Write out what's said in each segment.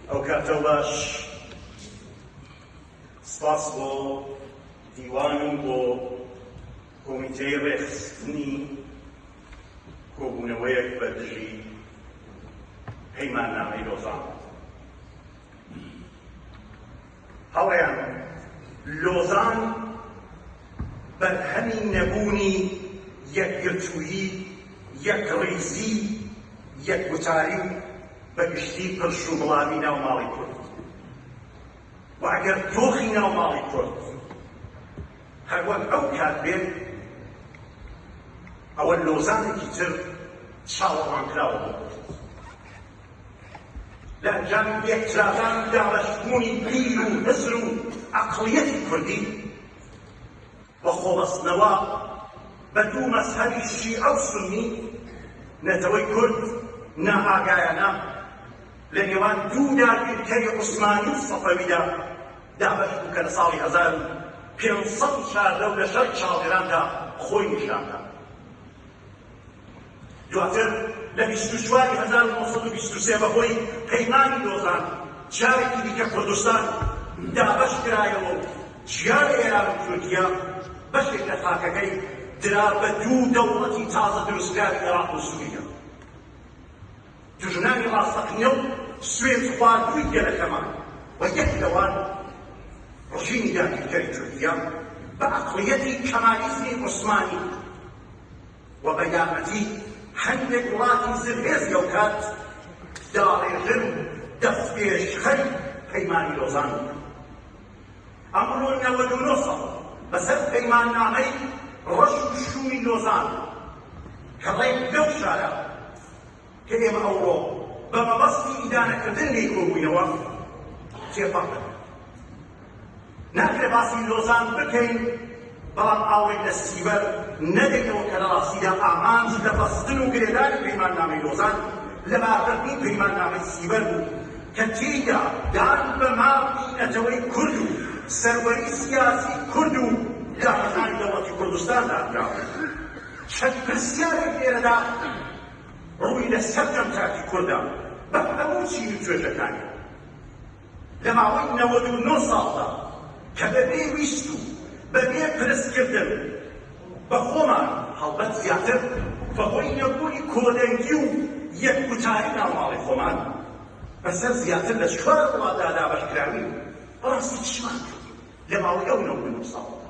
ئەو کاتەو باش سپاس بۆ دیوان و بۆ کۆمیتەی ڕێکخستنی کۆبوونەوەیەک بە دژی پەیماننامەی لۆزان هەڵەیان لۆزان بەرهەمی نەبوونی یەکگرتوویی، یەکڕیزی، یەکگوتاری و بەگشتی پرشوبڵاوی ناو ماڵی کورد و ئەگەر دۆخی ناو ماڵی کورد هەروەک ئەو کات بێت ئەوە لۆزانێکی تر چاوەڕوانکراوە بۆ کورد. لە ئەنجامی لێکترازان و دابەشبوونی بیر و هزر و عەقڵیەتی کوردی و خۆبەستنەوە بە دوو مەزهەبی شیعە و سوننی، نەتەوەی کورد نائاگایانە لە نێوان دوو داگیرکەری عوسمانی و سەفەویدا دابەش بوو کە لە ساڵی هەزار و پێنج سەد و چواردە و لە شەڕی چاڵگراندا خۆی نیشان دا. دواتر لە بیست و چوار ی هەزار و نۆ سەد و بیست و سێ بەهۆی پەیمانی لۆزان جارێکی دیکە کوردستان دابەش کرایەوە و جیا لە ئێران و تورکیا بەشێک لە خاکەکەی درا بە دوو دەوڵەتی تازە دروستکراوی عێراق و سووریا. دژناوی ڕاستەقینە و سوێندخواردووی گەلەکەمان و یەک لەوان ڕژیمی داگیرکەری تورکیا بە ئەقڵیەتی کەمالیزمی عوسمانی و بە یارمەتی هەندێک وڵاتی زلهێز لەوکات داڕێژەر و دەستپێشخەری پەیمانی لۆزان بوون. ئەمڕۆ نەوەد و نۆ ساڵ بەسەر پەیماننامەی ڕەش و شوومی لۆزان کە ڕێک لەو شارە کە ئێمە ئەوڕۆ بە مەبەستی ئیدانەکردن لێی کۆبووینەوە تێپەڕ دەکەن. ناکرێ باسی لۆزان بکەین بەڵام ئاوڕێک لە سیبەر نەدەینەوە کە لە ڕاستیدا ئامانج لە بەستن و گرێدانی پەیماننامەی لۆزان لەباربردنی پەیماننامەی سیبەر بوو کە تێیدا دان بە مافی نەتەوەی کورد و سەروەری سیاسی کورد و دامەزرانی دەوڵەتی کوردستان دانراوە. چەند پرسیارێک لێرەدا ڕووی لە سەرجەم تاکی کوردە بە هەموو چین و توێژەکانی لە ماوەی نەوەد و نۆ ساڵدا کە بە بێ ویست و بە بێ پرسکردن بە خۆمان، هەڵبەت زیاتر بە هۆی نەبوونی کۆدەنگی و یەک گوتاری ناوماڵی خۆمان، بە سەر زیاتر لە چوار وڵاتدا دابەش کراوین، بەڕاستی چیمان کردووە لە ماوەی ئەو نەوەد و نۆ ساڵەدا؟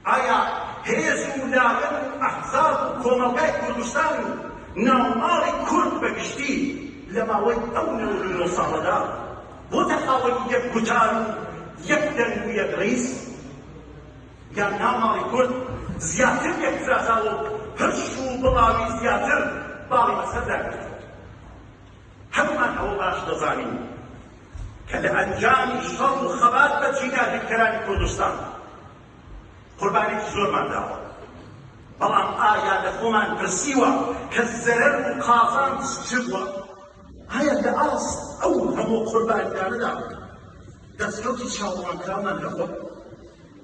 ئایا هێز و لایەن و ئەحزاب و کۆمەڵگای کوردستان و ناوماڵی کورد بە گشتی لە ماوەی ئەو نەوەد و نۆ ساڵەدا بۆتە خاوەنی یەک گوتار و یەک دەنگ و یەک ڕیز؟ یان ناوماڵی کورد زیاتر یەکترازاوە و هرش و بڵاوی زیاتر باڵی بەسەردا گرتووە؟ هەموومان ئەوە باش دەزانین کە لە ئەنجامی شەڕ و خەبات بە جیناکرکەرانی کوردستان قوربانیەکی زۆرمان داوە، بەڵام ئایا لە خۆمان پرسیوە کە زەرەر و قازانج چ بووە؟ ئایا لە ئاست ئەو هەموو قوربانیانەدا دەستکەوتی چاوەڕوانکراومان هەبووە؟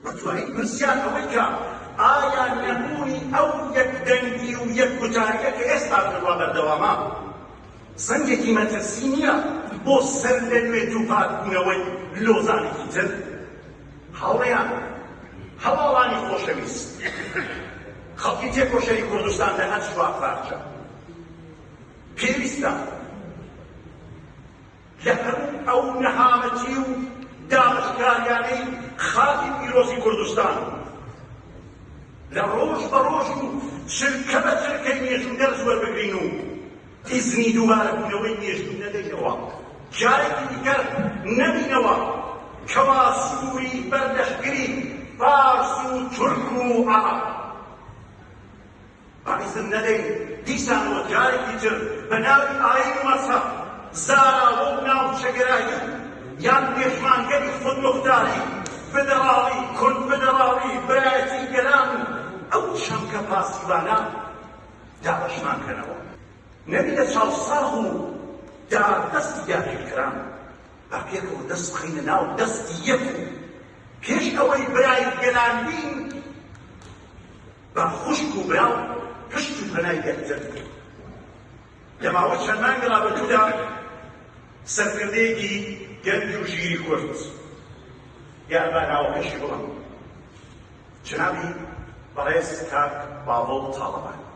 دەتوانیت پرسیار ئەوەی کە ئایا نەبوونی ئەو یەک دەنگی و یەک گوتاریە کە ئێستا بڕوا بەردەوامە زەنگێکی مەترسی نیە بۆ سەر لە نوێ دووپات بوونەوەی لۆزانێکی تر؟ هاوڕێیان هەواڵانی خۆشەویست خەڵکی تێکۆشەری کوردستان لە هەر چوار پارچە پێویستە لە هەموو ئەو نەهامەتی و دابەشکاریانەی خاکی پیرۆزی کوردستان لە ڕۆژ بە ڕۆژ و چرکە بە چرکەی مێژوو دەرس وەربگرین و ئیزنی دووبارەبوونەوەی مێژوو نەدەینەوە جارێکی دیکەر نەبینەوە کەوا سووری بەردەشگری فارس و تورک و عەڕەب ئیزن نەدەین دیسان بۆ جارێکی تر بە ناوی ئایین و مەزهەب زاراوە و ناوچەگەرایی و یان پێشمانگەری خودموختاری، فیدراڵی، کونفیدراڵی، برایەتی گەلان و ئەو چەمکە پاسیڤانە دابەشمان کەنەوە. نەک لە چاوساغ و داردەستی داگیرکەران، با پێکەوە دەست بخەینە ناو دەستی یەک و پێش ئەوەی برای گەلان بین، بە خوشک و برا پشت و پەنای یەکتر بکەین. لە ماوەی چەند مانگی ڕابردوودا سەرکردەیەکی گەنج و ژیری کورد یان با ناوەکەشی بڵێم جنابی بەڕێز کاک باڤڵ تاڵەبانی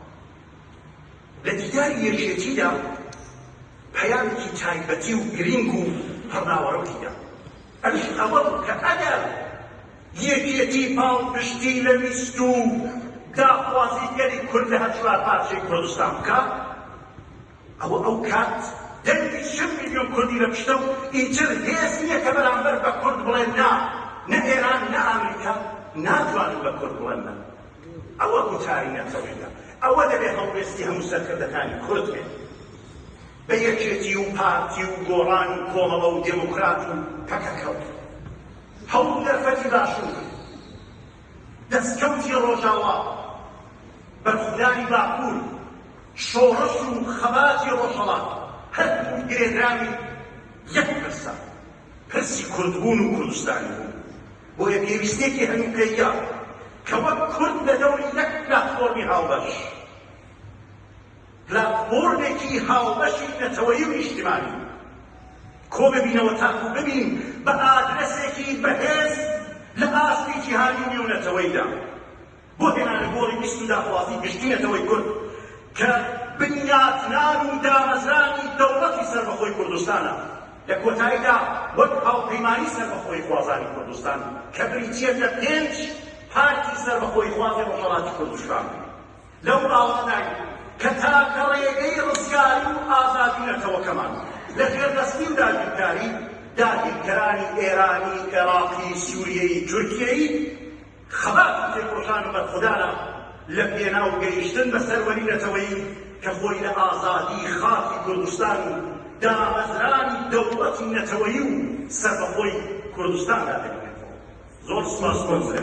لە دیداری یەکێتیدا پەیامێکی تایبەتی و گرینگ و پڕناوەڕۆکی دا ئەویش ئەوە بوو کە ئەگەر یەکێتی پاڵپشتی لە ویست و داخوازی گەلی کورد لە هەر چوار پارچەی کوردستان بکات، ئەوە ئەو کات دەنگی چل ملیۆن کوردی لە پشتە و ئیتر هێز نییە کە بەرامبەر بە کورد بڵێت نا، نە ئێران نە ئامریکا ناتوانن بە کورد بڵێن نا. ئەوە گوتاری نەتەوەیە، ئەوە دەبێت هەڵوێستی هەموو سەرکردەکانی کورد بێت. بە یەکێتی و پارتی و گۆڕان و کۆمەڵە و دێموکرات و پەکەکە و هەموو دەرفەتی باشوور، دەسکەوتی ڕۆژاوا، بەرخودانی باکوور، شۆڕش و خەباتی ڕۆژهەڵات هەردووک گرێدراوی یەک پرسە، پرسی کوردبوون و کوردستانی بوون. بۆیە پێویستیەکی هەنووکەییە کە وەک کورد لە دەوری یەک پلاتفۆرمی هاوبەش، راپۆرتێکی هاوبەشی نەتەوەیی و نیشتیمانی کۆببینەوە تاکو ببین بە ئادرەسێکی بەهێز لە ئاستی جیهانی و نێونەتەوەیدا بۆ هێنانە گۆڕی ویست و داخوازی گشتی نەتەوەی کورد کە بنیاتنان و دامەزرانی دەوڵەتی سەربەخۆی کوردستانە لە کۆتاییدا وەک هاوپەیمانی سەربەخۆی خوازانی کوردستان کە بریتییە لە پێنج پارتی سەربەخۆی خوازی ڕۆژهەڵاتی کوردستان. لەو باوەڕەداین کە تاکە ڕێگەی ڕزگاری و ئازادی نەتەوەکەمان لە ژێردەستی و داگیرکاری داگیرکەرانی ئێرانی، ئێراقی، سووریەیی، تورکیەیی، خەبات و تێکۆشان و بەرخودانە لە پێناو گەیشتن بە سەروەری نەتەوەیی کە خۆی لە ئازادی خاکی کوردستان و دامەزرانی دەوڵەتی نەتەوەیی و سەربەخۆی کوردستاندا دەبینێتەوە. زۆر سوپاس کۆنگرە.